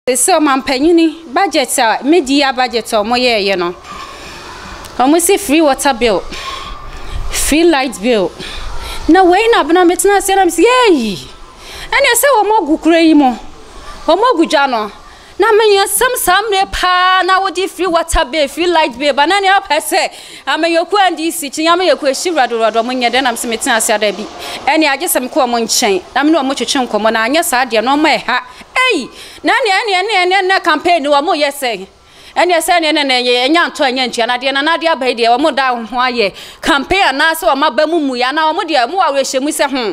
Sɛ ɔmanpanyin budget a media budget a ɔmo yɛɛ yɛ no ɔmo si free water bill free light bill na wei na abena me tena ase na me si eyi ɛna ɛsɛ wɔn agu kura yi mu wɔn agu dwa no na me yɛ sɛm saa mmerɛ paa na wodi free water bill free light bill ba na ne apɛ sɛ amanyɔku a ndi si kyinya amanyɔku ehyi wurado wurado ɔmo nyɛ dɛ na me si me tena ase ada bi ɛna agye sɛm kɔ ɔmo nkyɛn na me ne ɔmo twetwe nkɔmɔ na anyɛ saa deɛ na ɔmo ɛha Ei! Na ɛneɛ ɛneɛ ɛneɛ ɛneɛ nnɛ campaign no wɔn yɛ sɛn? Ɛneɛ sɛ ɛneɛ ɛneɛ ɛneɛ ɛnyɛ antɔ ɛnyɛ antua na deɛ Nana ade aba yi deɛ wɔn da wɔn ho ayɛ campaign anaa sɛ wɔn aba mu mu yɛ anaa wɔn deɛ wɔn wɔ awerɛhyɛmu sɛ hmm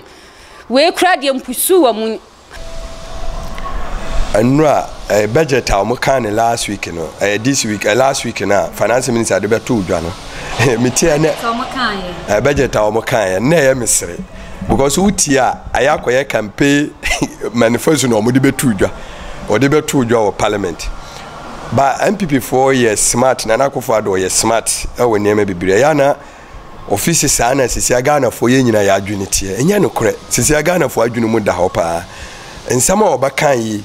wei koraa deɛ mpusu wɔn mu. Nnura, ɛyɛ budget a wɔn kaa no last week no, ɛyɛ this week, ɛyɛ last week no a finance minister de bɛto dwa no, metie ɛnɛ, ɛyɛ budget a wɔn kaa yɛ, nnɛ ɛyɛ mesere. Because wo tie a ayɛ akɔyɛ campaign manifesto na wɔde bɛtoo dwa. Wɔde bɛtoo dwa wɔ parliament. Ba NPP foɔ yɛ smart, Nana Akufo Addo ɔyɛ smart ɛwɔ nneɛma bebree. Ɛyɛ na ɔfisi saa na sisia Ghana foɔ yɛ nyina yɛ adwene teɛ. Ɛnyɛ nokorɛ. Sisia Ghana foɔ adwene mu da hɔ paa. Nsɛm a ɔbɛka yi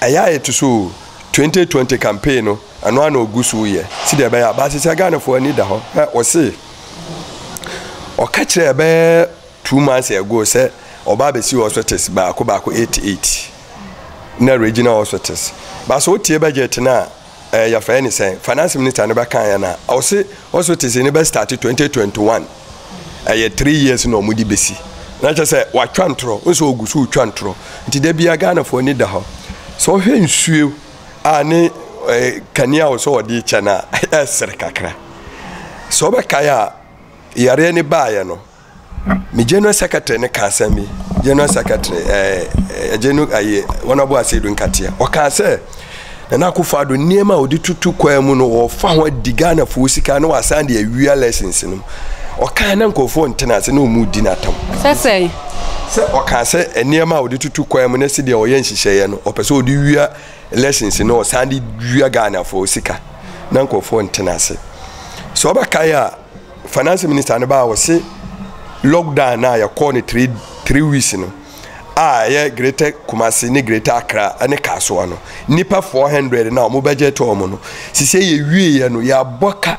ɛyɛ a ɛto so 2020 campaign no ɛno ara na ɔgu so yɛ. Sɛdeɛ ɛbɛyɛ a ba sisia Ghana foɔ ani da hɔ. Hwɛ ɔse. Ɔka kyerɛɛ bɛyɛ two months ago sɛ ɔba abɛsi hospitals baako baako eight eight na regional hospitals. Baasa wotie budget no a ɛɛ yɛfrɛ ne sɛn finance minister no bɛka yɛ no a ɔse hospitals no bɛ start twenty twenty one ɛyɛ three years na wɔn de bɛsi na kyerɛ sɛ watwa ntorɔ nso ɔgu so retwa ntorɔ nti da bia Ghanafoɔ ani da hɔ sɛ ɔhwɛ nsuo a ne eh, kanea a wɔsɛ wɔde kyɛ no a ɛsere kakra sɛ wobɛkae a yareɛ no baeɛ no me general secretary no ka asɛm bi general secretary ɛgye no ayɛ wɔn abo ase do nkateɛ ɔkaa sɛ nana akufo ado nneɛma a wɔde tutu kwan mu no wɔfa ho adi ghanafoɔ sika na wɔasan de awia lessons no ɔkaa na nkurɔfoɔ ntena ase na wɔn di n'atam sɛsɛn Sɛ ɔkaa sɛ nneɛma a ɔde tutu kwan mu ne sɛdeɛ ɔyɛ nhyehyɛeɛ no ɔpɛ sɛ ɔde wia elections no ɔsan de wia Ghanafoɔ sika na nkurɔfoɔ ntena ase sɛ ɔbɛkae a finance minister no baa ɔse lockdown no a yɛkɔɔ no three three weeks no a ɛyɛ greater Kumasi ne greater Accra ne Kasoa no nipa four hundred na wɔn bɛgye to wɔn no sisi yɛ wie yɛ no yɛabɔ ka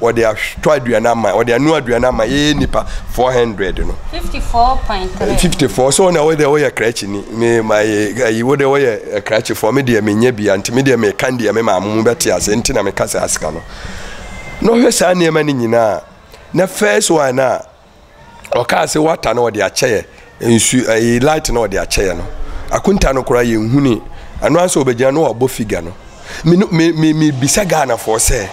Wɔde atɔ aduane ama, wɔde anoa aduane ama yɛyɛ nipa four hundred no. fifty four point three. fifty four so ɔna wɔde wɔyɛ krakyini me ma yɛ ayi wɔde wɔyɛ krakyefoɔ me deɛ menyɛ bi anti me deɛ meka deɛ me maame mu bɛte ase nti na meka saa sika no na ɔhwɛ saa nneɛma no nyinaa na first one a ɔkaa sɛ wata na ɔde akyɛyɛ nsu ɛyi light na ɔde akyɛyɛ no akunta no koraa yɛn huni ɛno ansa ɔbɛgyina no ɔbɔ figure no me no me me me bisa Ghana foɔ sɛ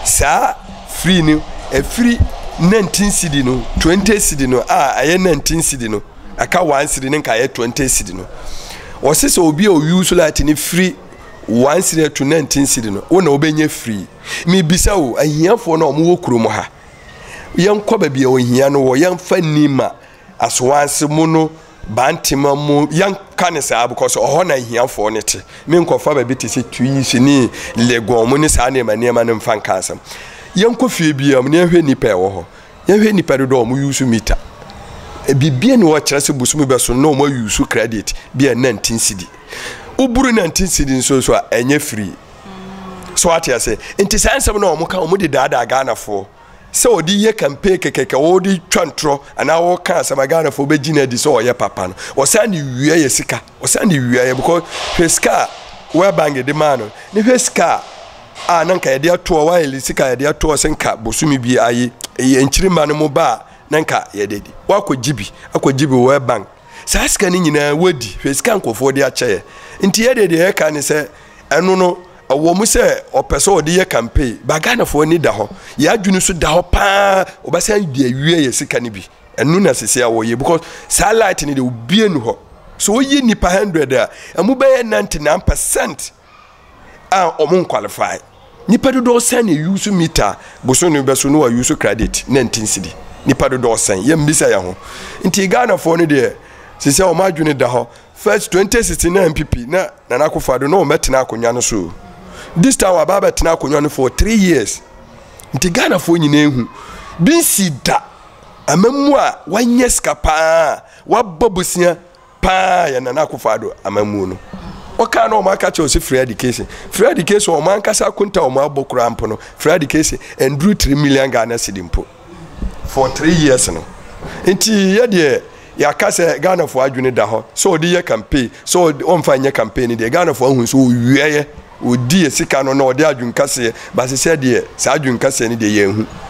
saa free no ɛfiri nineteen cedi no twenty cedi no a ɛyɛ nineteen cedi no ɛka one cedi ne nka ɛyɛ twenty cedi no wɔsi sɛ obi a oyi so light no firi one cedi to nineteen cedi no wɔn na wɔbɛnya free me bisa o ahiafoɔ no a wɔn wɔ kurom ha. yɛnkɔ baabi a ohia no wɔ, yɛmfa nni ma asowanse mu no, bantema mu, yɛnka ne saa because ɔhɔ na ahiafoɔ no te. Me nkɔfa baabi te sɛ Tuis ne Legon mu ne saa nneɛma nneɛma no mfa nka asɛm. Yɛnkɔ fie biara mu na yɛhwɛ nnipa a ɛwɔ hɔ. Yɛhwɛ nnipa dodoɔ a wɔn yusu mita. Biribi ne hɔ kyerɛ sɛ bosomi bɛso na wɔn ayusu credit bi a nantin sidi. Woburu nantin sidi nso so a ɛnyɛ free. so ate ase nti saa nsɛm na wɔn ka wɔn de daadaa ghanafoɔ sɛ wɔde yɛ campaign kɛkɛkɛ wɔde twa ntorɔ anaa wɔka asɛm a ghanafoɔ bɛgye no adi sɛ ɔyɛ papa no wɔsan de wia yɛ sika wɔsan de wia yɛ because hwɛ sika a world bank de maa no ne hwɛ sika a na nka yɛde atoɔ wɔayɛ sika yɛde atoɔ sɛ nka bosome bi ayi ɛyɛ nkyirima no mo ba a na nka yɛde di wɔakɔgye bi akɔgye bi world bank saa sika no nyinaa wɔadi hwɛ sika nkurɔfoɔ de akyɛ yɛ nti yɛde deɛ yɛka ne sɛ ɛno no ɛwɔ mu sɛ ɔpɛ sɛ ɔde yɛ campaign ba ghanafoɔ ani da hɔ yɛn adwene so da hɔ paa ɔbɛsan de awie yɛ sika no bi ɛno na sisi a wɔyɛ because saa light no de obie nu hɔ so woyi nipa hundred a ɛmu bɛyɛ ninety nine percent a wɔn nkwalify nipa dodoɔ sɛn na eyi so mita boso no bɛ so no wɔyi so credit nineteen cedi nipa dodoɔ sɛn yɛn mbisa yɛn ho nti ghanafoɔ no deɛ sisi a wɔn adwene da hɔ First twenty sixteen na NPP na Nana Akufo Addo na wɔn bɛtena akonnwa no so this time wɔaba abɛtena akonnwa no for three years nti Ghanafoɔ nyinaa ehu bi nsi da amammuo a wanyɛ sika paa wabɔ bosia paa yɛ Nana Akufo Addo amammuo no wɔkaa na wɔn aka kyerɛ sɛ free education free education wɔn ankasa akonta wɔn abɔ koraa mpo no free education nduru three million Ghana cedi mpo. for three years no nti yɛ deɛ yɛaka sɛ ghanafoɔ adwene da hɔ sɛ ɔde yɛ campaign sɛ ɔmfa nyɛ campaign no deɛ ghanafoɔ ahu sɛ ɔwiaeɛ ɔdi yɛ sika no na ɔde adwenkaseɛ basesɛ deɛ saa adwenkaseɛ no deɛ yɛahu